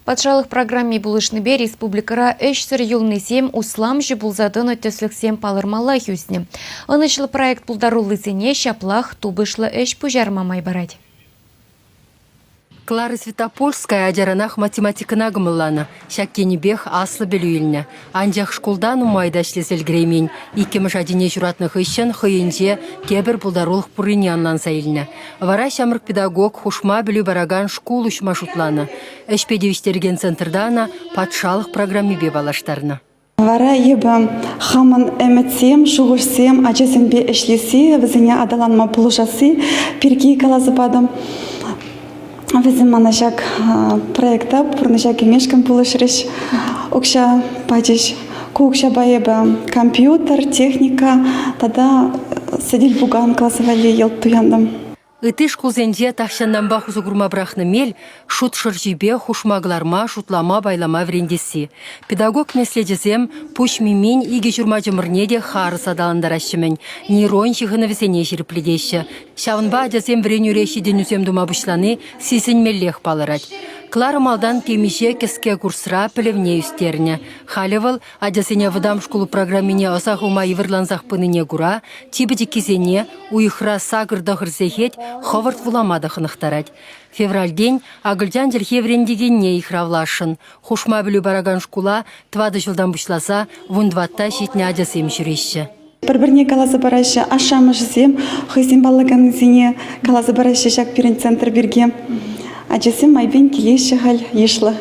Патшалӑх программи пулӑшнипе республикӑра ӗҫсӗр юлнисем усламҫӑ пулса тӑнӑ тӗслӗхсем палӑрмаллах ӳснӗ. Ӑнӑҫлӑ проект пултаруллисене ҫаплах тупӑшлӑ ӗҫ пуҫарма май парать. Клара Святопольская ачаранах математикӑна кӑмӑлланӑ. Ҫак енӗпех аслӑ пӗлӳ илнӗ. Анчах шкулта нумай та ӗҫлесе ӗлкӗреймен. Иккӗмӗш ачине ҫуратнӑ хыҫҫӑн хӑйӗнче тепӗр пултарулӑх пуррине ӑнланса илнӗ. Вара ҫамрӑк педагог хушма пӗлӳ паракан шкул уҫма шутланӑ. Ӗҫпе тивӗҫтерекен центрта ӑна патшалӑх программипе паллаштарнӑ. Вара эпӗ хамӑн ӗмӗтсем, шухӑшсем ачасемпе ӗҫлесси, вӗсене аталанма пулӑшасси пирки каласа патӑм. Вӗсем мана ҫак проекта пурнӑҫа кӗмешкӗн пулӑшрӗҫ, укҫа пачӗҫ. Ку укҫапа эпӗ компьютер, техника тата сӗтел-пукан класса валли йӑлт туянтӑм. Ытти шкулсенче тахҫантанпах усӑ курма пӑрахнӑ мел шут шӑрҫипе хушма кӑларма, шутлама, пайлама вӗрентесси. Педагог меслечӗсем пуҫ мимин икӗ ҫурма чӑмӑрне те харӑс аталантараҫҫӗ-мӗн, нейрон ҫыхӑнӑвӗсене ҫирӗплетеҫҫӗ, Ҫавӑнпа ачасем вӗренӳре ҫитӗнӳсем тума пуҫлани сисӗнмеллех палӑрать. Клара малтан темиҫе кӗске курсра пӗлӗвне ӳстернӗ. Халӗ вӑл ачасене вӑтам шкул программине ӑса хума йывӑрлансах пынине кура типӗ чиккисене, уйӑхра сакӑр тӑхӑр сехет хӑвӑрт вулама та хӑнӑхтарать. Февральтен акӑлчан чӗлхи вӗрентекенне йыхравласшӑн. Хушма пӗлӳ паракан шкула тӑватӑ ҫултан пуҫласа вун тӑватта ҫитнӗ ачасем ҫӳреҫҫӗ. Пӗр-пӗрне каласа параҫҫӗ, ашшӗ-амӑшӗсем хӑйсем паллаканнисене каласа параҫҫӗ ҫак пирӗн центр пирки. Ачасем майпен килеҫҫӗ халь йышлӑ.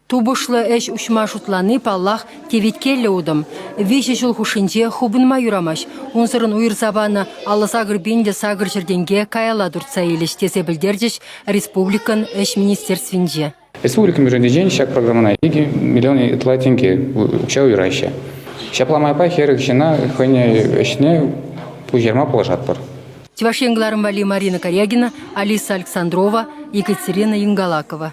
Тупӑшлӑ ӗҫ уҫма шутлани, паллах, теветкеллӗ утӑм. Виҫӗ ҫул хушшинче хупӑнма юрамасть. Унсӑрӑн уйӑрса панӑ алӑ сакӑр пин те сакӑр ҫӗртенке каялла туртса илӗҫ, тесе пӗлтерчӗҫ республикӑн Ӗҫ министерствинче. Республикӑн бюджетӗнчен ҫак программӑна икӗ миллион ытла тенке укҫа уйӑраҫҫӗ. Ҫапла майпа хӗрӗх ҫына хӑйне ӗҫне пуҫарма пулӑшатпӑр. Чӑваш Ен кӑларӑм валли Марина Корягина, Алиса Александрова, Екатерина Ингалакова.